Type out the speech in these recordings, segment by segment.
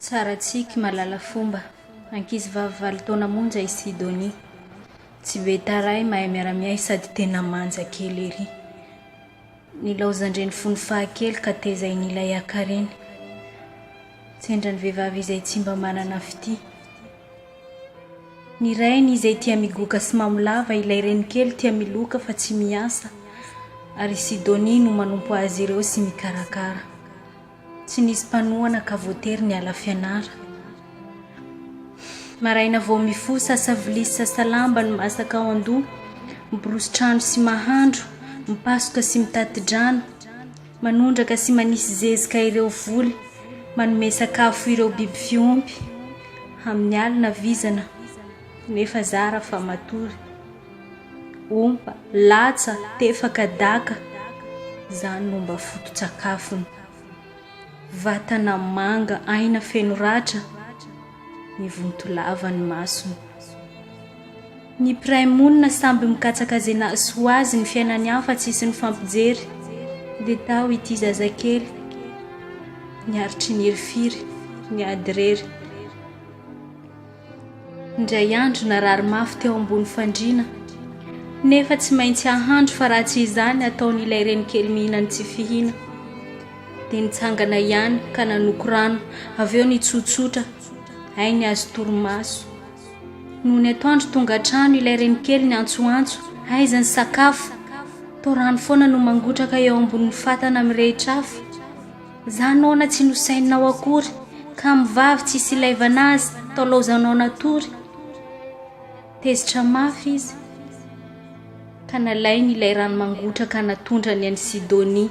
Tsara tsiky, mahalala fomba. Ankizivavy valo taona monja i Sidonie. Tsy be taray, mahay miara-miahy sady tena manja kely ery. Nilaozan-dreny fony fahakely ka tezainy ilay hakareny. Tsendran'ny vehivavy izay tsy mba manana fitia. Ny rainy izay tia migoka sy mamolava, ilay reny kely tia miloka fa tsy miasa ary i Sidonie no manompo azy ireo sy mikarakara. Tsy nisy mpanohana ka voatery niala fianara. Maraina vao mifoha sasa vilia sy sasa lamba ny masaka ao an-doha, miborosy trano sy mahandro, mipasoka sy mitati-drano, manondraka sy manisy zezika ireo voly, manome sakafo ireo biby fiompy, amin'ny alina vizana nefa zara fa matory. Ompa, latsa, tefaka, daka, izany no mba foto-tsakafony. Vatana manga aina feno ratra, mivonto lava ny masony. Ny mpiray monina samby mikatsaka izay nahasoa azy ny fiainany any fa tsisy nifampijery, dia tao ity zazakely niaritry ny hirifiry, niady irery. Indray andro narary mafy teo ambony fandriana, nefa tsy maintsy hahandro fa raha tsy izany ataony ilay renikely mihinany tsy fihina. Dia nitsangana ihany ka nanoko rano, avy eo nitsotsotra, hay ny azy torimaso. Nony atoandro tonga an-trano ilay renikely niantsoantso, aiza ny sakafo? Toa rano foana no mangotraka eo ambonin'ny fatana mirehitra afo. Za nona tsy nosainina ho akory Kamo vavy tsisy ilaivana azy Taolaozanao natory Tezitra mafy izy Ka nalainy ilay rano mangotraka Natondrany an'i Sidonia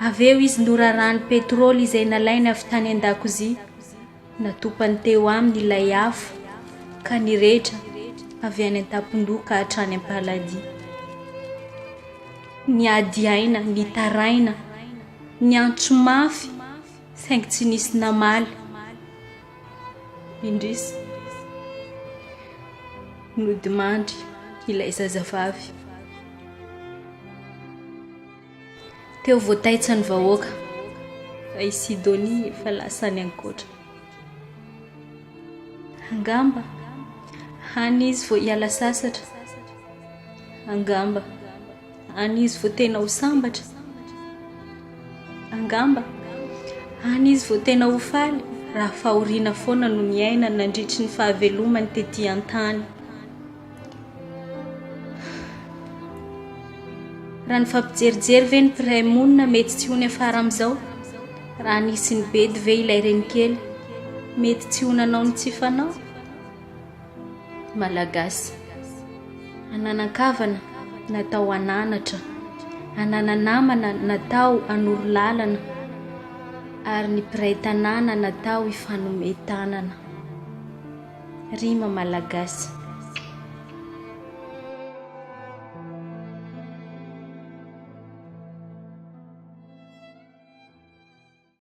Avy eo izy norarany petrol Izay nalainy avy tany an-dakozia Natopany teo aminy ilay afo ka nirehitra avy any an-tampon-doha ka hatrany am-paladia. Niady aina, nitaraina, niantso mafy saingy tsy nisy namaly. Indrisy, nodimandry ilay zazavavy. Teo voataitsa ny vahoaka, fa i Sidonia efa lasa any an-koatra. Angamba, any izy vao hiala sasatra. Angamba, any izy vao tena ho sambatra. Angamba, any izy vao tena ho faly, raha fahoriana foana no niainany nandritry ny fahavelomany tetỳ an-tany. Raha ny fampijerijery ve ny mpiray monina mety tsy ho niafara amin'izao? Raha nisy nibedy ve ilay renikely mety tsy ho nanao ny tsy fanao? Ny Malagasy ananan-kavana natao hananatra, ananan-namana natao hanoro lalana ary ny mpiray tanàna natao hifanome tanana. Rima malagasy.